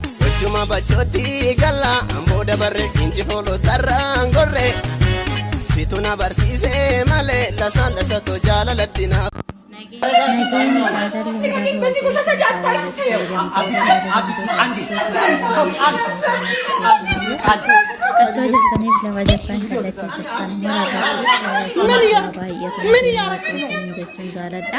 Wajjuma bachooti galla amboo dabarre inci foolo tarraan gorre situ na barsiise malee lasaan lasatu jaalalatti na. Nageenya jaalalli haaraa Akka jirtaniif lafa jirtan kallattii jirtan mara baay'ee baay'ee jechuun jaaladha.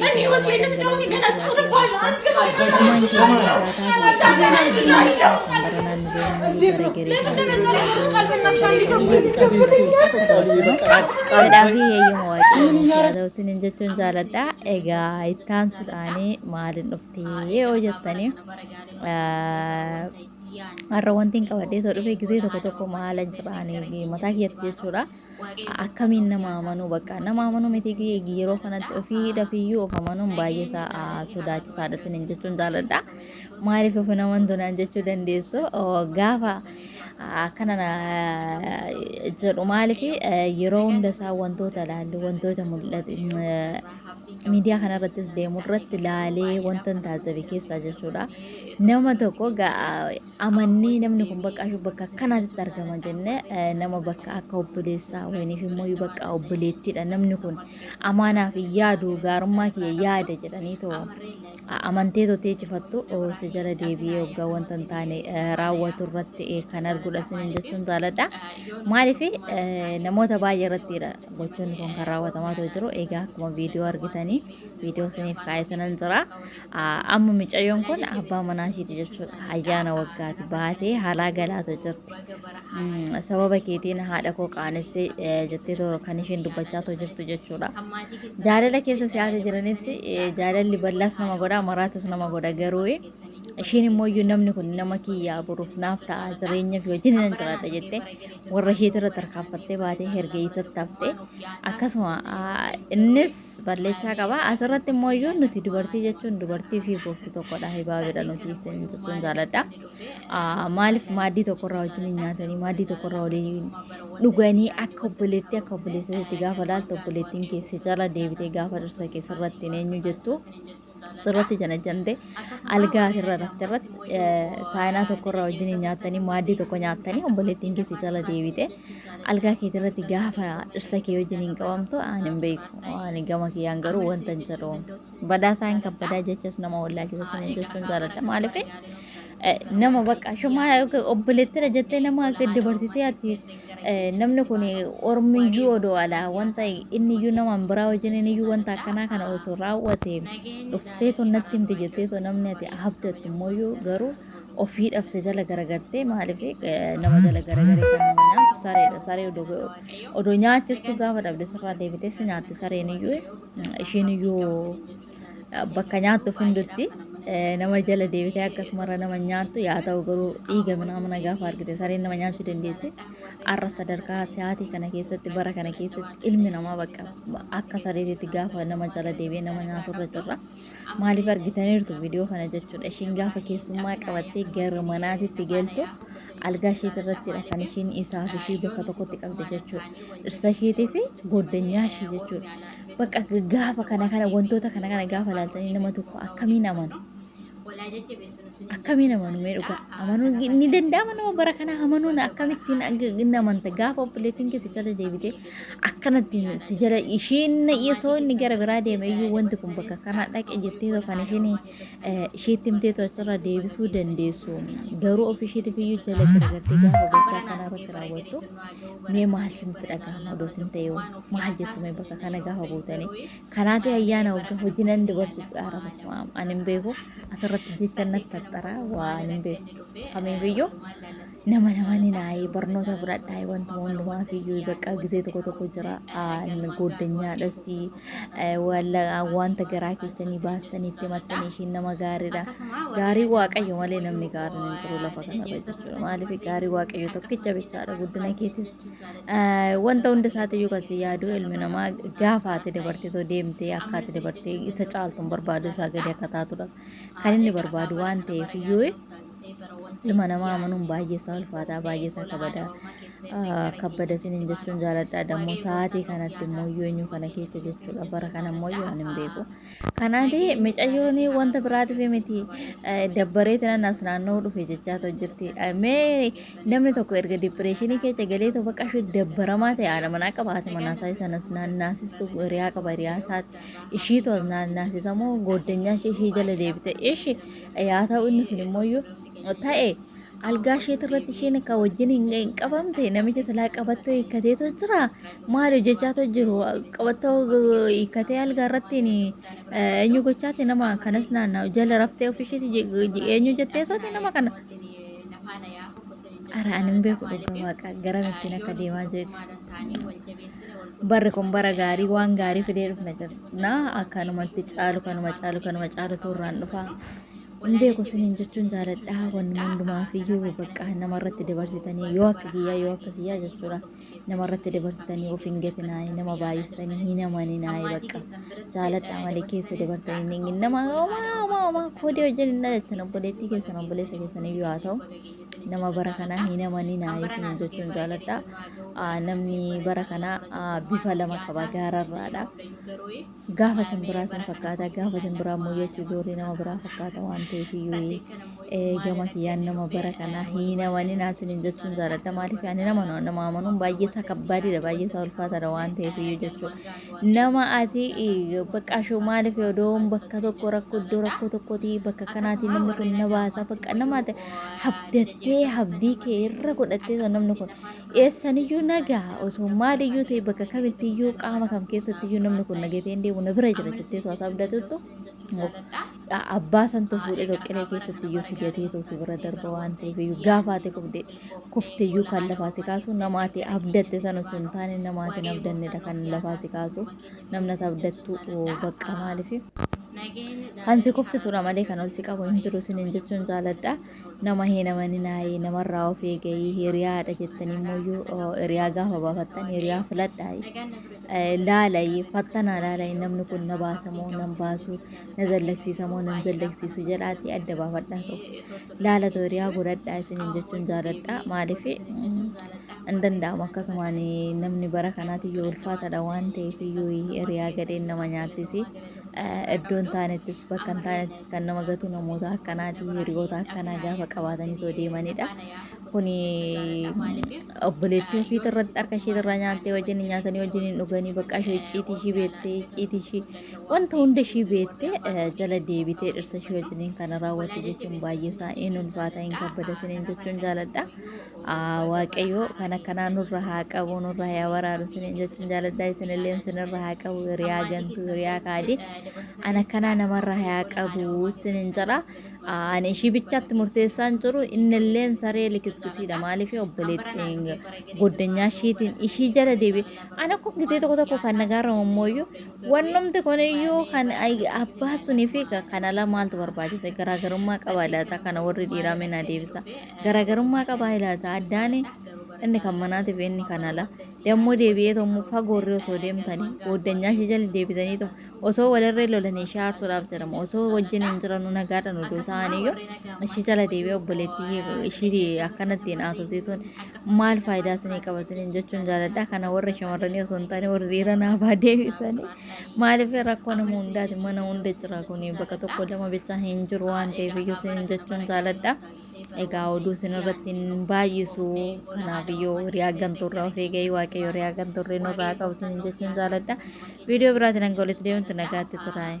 Namni Waaqayyo namni ta'uu ni kadhattuu tokko haadha waan jiru. Lamaan keenya jiraataa Isiniin jechuun jaaladha. Egaa ittaan sudhaanii maaliin dhuftee yoo jettanii har'a wanti hin qabadhee soo dhufee gisee tokko tokko maalan jedhaanii mataa keessatti jechuudha. Akkamiin nama amanuu bakka nama amanuu miti yeroo kanatti ofii dafiyyuu of amanuun baay'ee isaa sodaachisaadha sinin jechuun jaaladha. Maaliif of hin amantu naan jechuu dandeessu gaafa akkana jedhu maaliif yeroo hunda isaa wantoota ilaallu wantoota mul'atu miidiyaa kanarrattis deemu irratti ilaalee wanta hin taasife keessaa jechuudha. Nama tokko amannee namni kun bakka ashu bakka akkanaatitti argama jenne nama bakka akka obboleessaa wayiniif immoo bakka obboleettiidha namni kun amaanaaf yaadu gaarummaa kiyya yaada jedhanii too amantee too teechifattu si jala deebi'ee waggaa wanta hin taane raawwatu irratti kan arguudha sinin jechuun jaaladha maaliif namoota baay'ee irrattiidha gochoonni kun kan raawwatamaa too jiru egaa akkuma viidiyoo argitanii viidiyoo siniif kaa'ee tanan jira Amma micayyoon kun abbaa manaa ishiiti jechuudha. Ayyaana waggaati baatee haalaa galaatu jirti. Sababa keetiin haadha koo qaanessee jettee toora kan isheen dubbachaa too jirtu jechuudha. Jaalala keessa siyaasa jiranitti jaalalli bal'aas nama godha maraatas nama godha garuu isheen immoo iyyuu namni kun nama kiyyaa boruuf naaf ta'a jireenya fi wajjin nan jiraadha jettee warra isheetirra tarkaanfattee baatee hergeessatti haftee akkasuma innis balleechaa qaba asirratti immoo iyyuu nuti dubartii jechuun dubartii fi booftu tokkodha hibaabidha nuti isin jechuun jaaladha Ah, maaliif maaddii tokkorraa wajjin hin nyaatanii maaddii tokkorraa waliin dhuganii akka obboleettii akka obboleessatti gaafa laaltu obboleettiin keessa jala deebitee gaafa dhirsa keessarratti hin eenyu jettu irratti janajante algaa irra rafte irratti saayinaa tokko irraa wajjin nyaattanii maaddii tokko nyaattanii obboleettiin keessi jala deebite algaa keetii irratti gaafa dhirsa kee wajjin hin qabamtu aan hin beeku ani gama kiyyaan garuu wanta hin jedhu badaa isaa hin kabbadaa jechas nama wallaalchisa sanii jechuun jaaladha maaliif Eh, nama bakka shuma yookiin obboleettidha jettee nama akka dabarsitee ati eh, namni kun ormiyyuu odoo alaa wanta inni iyyuu nama biraa wajjin inni iyyuu wanta akkanaa kana osoo raawwate dhuftee tun natti himte jettee tun namni ati habdattu immoo iyyuu garuu ofii dhabse jala garagartee maaliif eh, nama jala garagaree kan nama nyaatu sareedha saree odoo odoo nyaachistu gaafa dhabde sirraa deebitee si nyaatti sareen iyyuu eh, ishiin iyyuu bakka nyaattu fundutti nama jala deebitee akkasumarra nama nyaattu yaa ta'u garuu dhiiga minaamina gaafa argite sareen nama nyaachuu dandeessi. Har'a sadarkaa sa'aatii kana keessatti bara kana keessatti ilmi namaa bakka akka sareetitti gaafa nama jala deebi'ee nama nyaaturra jirra. Maaliif argitaniirtu viidiyoo kana jechuudha. Ishiin gaafa keessummaa qabattee gara manaatitti galtu algaa ishiitti irrattidha kan ishiin isaa fi ishii bakka tokkotti qabde jechuudha. Dhirsa ishiitii fi goddanyaa ishii jechuudha. Bakka gaafa kana kana wantoota kana kana gaafa laaltanii nama tokko akkamiin amanu? Akkamiin amanu mee dhugaa? Amanuun ni danda'ama nama bara kana amanuun akkamittiin hin amanta gaafa obboleettiin keessa jala deebite akkanatti si jala isheen na dhiisoo inni gara biraa deeme iyyuu wanti kun bakka kana dhaqe jettee tokko kan isheen isheetti himteetu achirraa deebisuu dandeessu. Garuu ofii isheetiif iyyuu jala garagartee gaafa gochaa kana irratti raawwattu mee maal isinitti dhaga'ama odoo isin ta'e hoo maal jettu mee bakka kana gaafa buutanii. Kanaati ayyaana waggaa hojii nan dubartii dhaara basmaam ani hin beeku asirratti jecha natti tattara waan hin beeku. Kamiifiyyuu Nama nama ni naayii barnoota fudhadhaa wantuma hundumaaf iyyuu bakka gisee tokko tokko jira gooddanyaadhas wanta garaa keessanii baastanii itti mattanii ishiin nama gaariidha. Gaarii waaqayyo malee namni gaariin hin jiru lafa kanarra jechuudha. Maaliif gaarii waaqayyo tokkicha bichaadha guddina keetis wanta hunda isaati iyyuu kasi yaaduu ilmi namaa gaafa ati dabartee soo deemtee akka ati dabartee isa caaltuun barbaadu isaa gadi akka taatudha. Kan inni barbaadu waan ta'eef iyyuu ilma namaa amanuun baay'ee isaa ulfaataa baay'ee isaa kabadaa ah, kabbada isiniin jechuun jaaladha dammoo sa'aatii kanatti immoo iyyuu eenyu kana keessa jechuudha bara kana immoo iyyuu ani hin beeku kanaati micayyoon wanta biraatiif miti eh, dabbaree tinan as naanna'uu dhufe jechaa too jirti Eh, mee namni tokko erga dipireeshinii keessa galee too bakka ishee dabbaramaa ta'e haadha manaa qabaate manaasaa isanas naannaasistu hiriyaa qaba hiriyaa isaati ishiitu as naannaasisamoo gooddanyaa ishee ishii jala deebite ishi Yaa ta'u inni sun immoo iyyuu ta'e algaa isheet irratti isheen akka wajjin hin hin qabamte namicha silaa qabattoo hiikkateetu jira maal hojjechaatu jiru qabattoo eh, hiikkatee algaa irratti ni, eh, eenyu gochaati nama kanas naanna'u jala raftee ofisheeti eenyu jetteesooti nama kana Ara ani hin beeku dhugaa waaqa garam ittiin akka deemaa jirtu. Barri kun bara gaarii waan gaarii fidee dhufna jirna akkanumatti caalu kanuma caalu kanuma caalu turraan dhufa. Hin beeku isiniin jechuun jaaladha wanni hundumaaf iyyuu bakka namarratti dabarsitanii yoo akka kiyyaa yoo akka kiyyaa jechuudha. nama irratti dabarsitanii of hin gatinaayi nama baay'iftanii hin amaninaayi bakka jaaladhaa malee keessa dabartanii hin eegin nama homaa homaa homaa koodee wajjin hin dhalattan obboleettii keessan obboleessa keessan iyyuu haa ta'u nama bara kanaa hin amaninaayi isin jechuun jaaladhaa Ah, namni bara kanaa ah, bifa lama qaba gaararraadha Gaafa san biraa san fakkaata gaafa san biraa immoo jechi zoorri nama biraa fakkaata waan ta'eef iyyuu gama kiyyaan nama bara kanaa hin amanin asinin jechuun jaaladha maaliif ani nama nama amanuun baay'ee isaa kabbaadidha baay'ee isaa ulfaataadha waan ta'eef iyyuu jechuudha nama ati bakka ashoo maaliif odoon bakka tokko rakkoo iddoo rakkoo tokkooti bakka kanaati namni kun na baasa bakka nama ati habdattee habdii kee irra godhattee namni kun Eessaniyyuu naga, osoo maaliyyuu ta'e bakka kamittiyyuu qaama kam keessattiyyuu namni kun nagatee hin deemu na bira jira jettee too ati abdatuttu abbaa santu fuudhee too qiree keessattiyyuu si gatee too si bira darba waan ta'eef iyyuu gaafa ati kufte kufteyyuu kan lafaa si kaasu nama ati abdatte sana osoo hin taane nama ati hin abdannedha kan lafaa si kaasu namni ati abdattu bakka maaliif kan si kuffisudha malee kan ol si qabu hin jiru isiniin jechuun jaaladha. Nama hin amaninaayi, namarraa of eegayi, hiriyaadha jettanii immoo hiriyaa gaafa baafattan hiriyaa filadhaayi. Laalayi, fattanaa laalayi namni kun na baasa moo nan baasu, na dallaksiisa moo nan dallaksiisu jedhaatii adda baafadhaa tokko. Laalatu hiriyaa godhadhaa isiniin jechuun jaaladha. Maaliif hin danda'amu akkasumaan namni bara kanaatii yoo ulfaatadha waan ta'eef yoo hiriyaa gadheen nama nyaachisi. Iddoo hin taanettis bakka hin taanettis kan nama gatu namoota akkanaati hiriyoota akkanaa gaafa qabaatanii too deemanidha. Kuni obboleettii ofiitu irratti harka ishee irraa nyaattee wajjin hin nyaatanii wajjin hin dhuganii bakka ishee icciitii ishii beettee icciitii ishii wanta hunda ishii beettee eh, jala deebitee dhirsa ishee wajjin kana raawwatte jechuun baay'ee isaa hin ulfaata hin kabbada isiniin jechuun jaaladha. Waaqayyo kan akkanaa nurra haa qabu nurra haa waraanu isiniin jechuun jaaladhaa isinillee isinirra haa qabu hiriyaa gantuu hiriyaa kaadii an akkanaa namarra haa qabu isiniin jedha ani ishii bichaatti murteessaan jiru innilleen saree likiskisiidha maaliif obboleettiin goddanyaa ishiitiin ishii jala deebi an akkuma gisee tokko tokko kan nagaarra mummooyyuu wannumti kun iyyuu kan abbaa sunii fi kan ala maaltu barbaachisa garaagarummaa qaba laata kana warri dhiiraa meenaa deebisa. Garaagarummaa qabaa ilaata addaani inni kan manaatiif inni kan alaa dammoo deebi'ee tommoo fagoorree osoo deemtanii booddanyaa ishee jala deebitanii to osoo walirree lolanii ishee aarsuudhaaf jedhama osoo wajjin hin jiranuu nagaadhaan oduu ta'aniyyuu ishee jala deebi'ee obboleettii ishii akkanatti hin haasofsiisuun maal faayidaa isinii qaba isiniin jechuun jaaladha kana warri shamarranii osoo hin taane warri dhiira naafaa deebisanii maaliif rakkoo nama hundaati mana hunda jira kun bakka tokko lama bichaa hin jiru waan ta'eef iyyuu isiniin jechuun jaaladha. Egaa oduu isinirratti hin baay'isu. Kanaaf iyyuu hiriyaa gantuurraa of eegayi waaqayyo hiriyaa gantuurree nurraa qabu isin jechuun jaaladha. Viidiyoo biraatiin hanga walitti deemutti nagaatti turaayi.